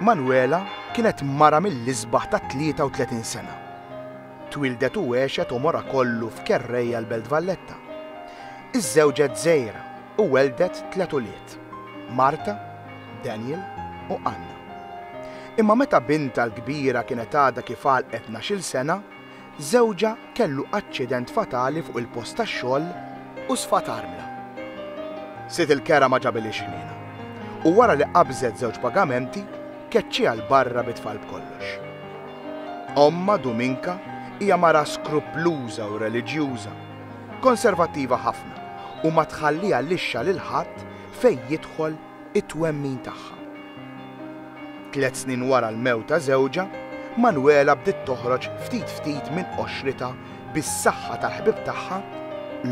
Manuela kienet mara mill-isbaħ ta' 33 sena. Twieldet u għexet għomorha kollu f'Kerrejja l-Belt Valletta. Iżżewġet Zehra u welldet tliet ulied, Marta, Daniel u Anna. Imma meta bintha l-kbira kienet għadha kif għalqet ngħax-il sena, żewġha kellu aċċident fatali fuq il-post tax-xogħol u sfat armla. Sid il-kera ma ġabiliex ħniena u wara li qabżet żewġ pagamenti, keċċiha 'l barra bit-tfal b'kollox. Ommha, Duminka, hija mara skruppluża u reliġjuża, konservattiva ħafna u ma tħalliha lixxa lil ħadd fejn jidħol it-twemmin tagħha. Tliet snin wara l-mewt ta' żewġha, Manuela bdiet toħroġ ftit ftit minn qoxritha bis-saħħa tal-ħbieb tagħha,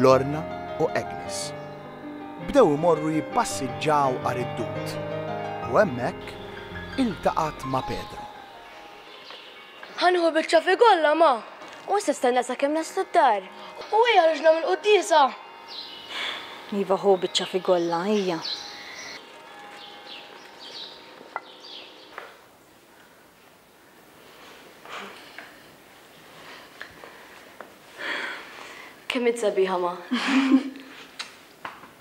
Lorna u Agnes. Bdew imorru jippassiġġaw għar-riddut u hemmhekk iltaqgħet ma' Pedro. Ħanuħu biċċa fi golla ma. U issa stenna sakemm naslu d-dar. U ejja ħruġ nagħmel quddiesa. Iva ħu biċċa fi golla, ejja. Kemm int sabiħa ma.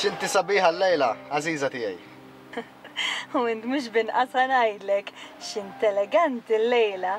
X'inti sabiħa llejla, għażiża tiegħi. U int mhux b'inqasha ngħidlek x'int eleganti llejla.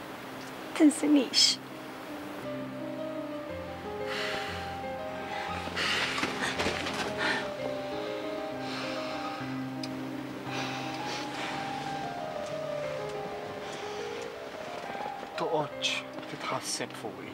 Tinsinix. Toqgħodx titħasseb fuqi.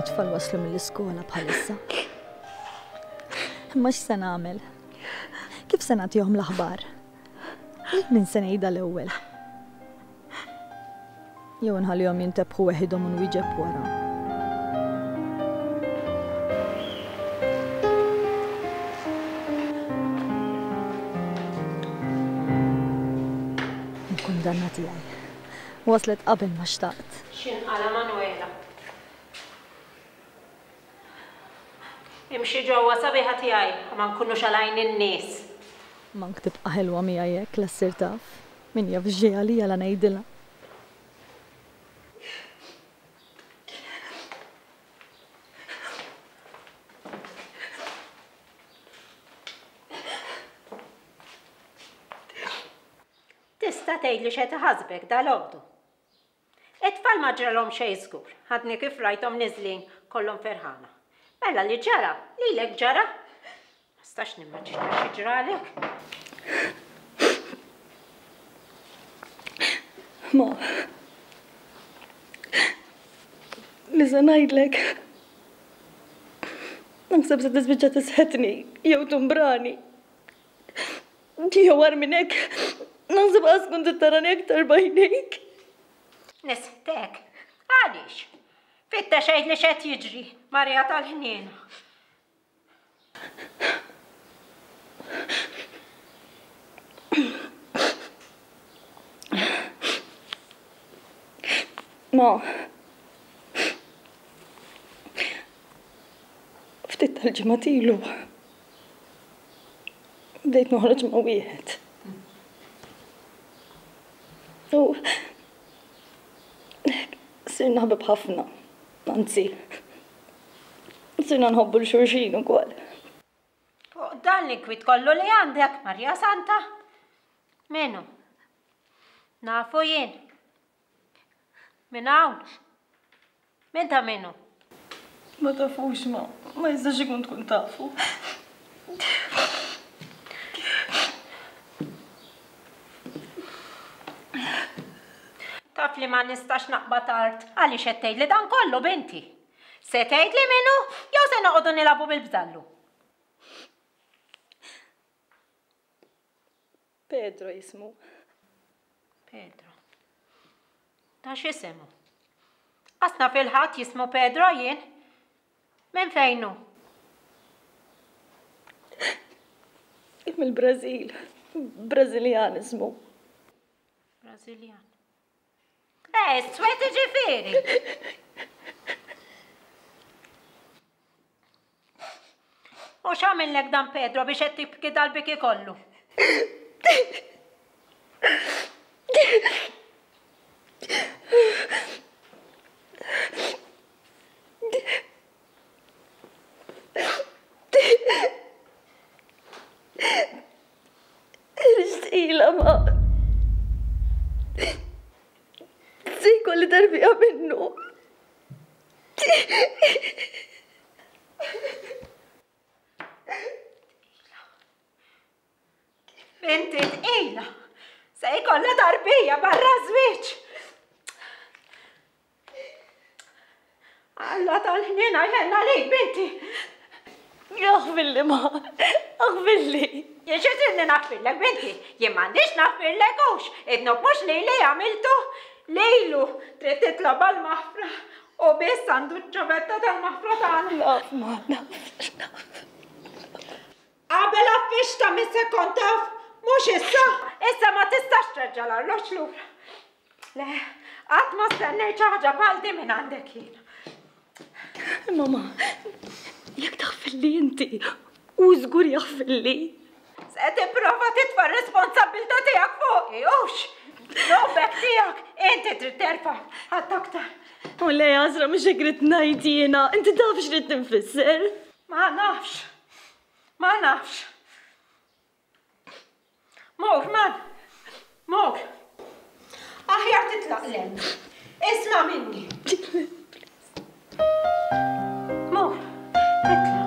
It-tfal waslu mill-iskola bħalissa. Imma x'se nagħmel? Kif se nagħtihom l-aħbar? Lil min se ngħidha l-ewwel? Jew inħallihom jintebħu weħidhom u nwieġeb wara. Il-kundanna tiegħi. Waslet qabel ma xtaqt. X'inqala' Manwela. Imxi ġewwa sabiħa tiegħi u ma nkunux għal għajn in-nies. M'hawnk tibqa' ħelwa miegħi hekk la ssir taf. Min jaf x'ġej għalija la ngħidilha. Tista' tgħidli x'qed iħassbek dalgħodu? It-tfal ma ġralhom xejn żgur, għadni kif rajthom niżlin kollhom ferħana. Mela li ġara, lilek ġara? Ma nistax nimmaġina xi ġralek. Ma. Li se ngħidlek. Naħseb se tispiċċa tisħetni jew tumbrani. Ġieħ war minn hekk, naħseb qas tkun trid tarani aktar b'għajnejk. Nisħtek? Għaliex? Fitta xejn li xed jiġri, Marija tal-ħniena. Ma. Ftit tal-ġimgħat ilu. bdejt noħroġ ma' wieħed. U sirna ħbib ħafna, anzi, sirna nħobbu l-xurxin ukoll. Fuq dan l-inkwit kollu li għandek, Marja Santa, minu? Nafu jien. Minn hawn? Minn ta' min hu? Ma tafux ma, ma jistax ikun tkun tafu. Taf li ma nistax naqbad art, għaliex qed tgħidli dan kollu, binti? Se tgħidli min hu jew se noqogħdu nilagħbu bil-bdallu? Pedro jismu. Pedro. Ta' x'isem hu? Qas naf il-ħadd jismu Pedro jien. Minn fejn hu? Mill-Brażil. Brażiljan ismu. Brażiljan. Eh, s-swed iġifiri. U xamillek dan Pedro biex qed tibki dal-biki kollu? Irġdila ma. Sejku li darbija minnu. Inti tqila. Se jkollha tarbija barra żwieġ. Alla tal-ħnien għajnenna lejk binti. Aħbilli ma, aħbilli. Jiex iżinni naħbillek binti, jien m'għandix naħbillek hux, idnu mhux li li għamiltu lejlu trid titlob għall-maħfra u biss għandu ċ-ċavetta tal-maħfra tagħna. Naf ma, naf, naf. Qabel għaffiex ta' min se kont taf, mhux issa! Issa ma tistax terġa' l-arloġġ lura. Le, qatt ma stennejt xi ħaġa bħal din minn għandek jien. Mama, jekk taħfilli inti, u żgur jaħfilli. Se tipprova titfa' r-responsabbiltà tiegħek fuqi, hux! Robek tiegħek, inti trid terfa' ħadd aktar. U le, Għażra mhux hekk rid ngħid jiena, inti taf x'rid tinfisser. Ma nafx. Ma nafx. Mok, ma. Mok. Aħjar titlaq lem. Isma minni. Mok, titlaq.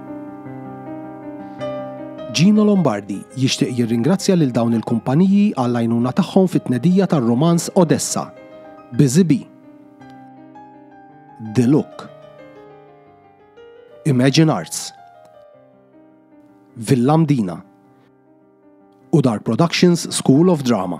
Gino Lombardi jixtieq jirringrazzja lil dawn il-kumpaniji għall-għajnuna tagħhom fit-tnedija tar-rumanz Odessa. Busy Bee. The Look. Imagine Arts. Villa Mdina. U Dark Productions School of Drama.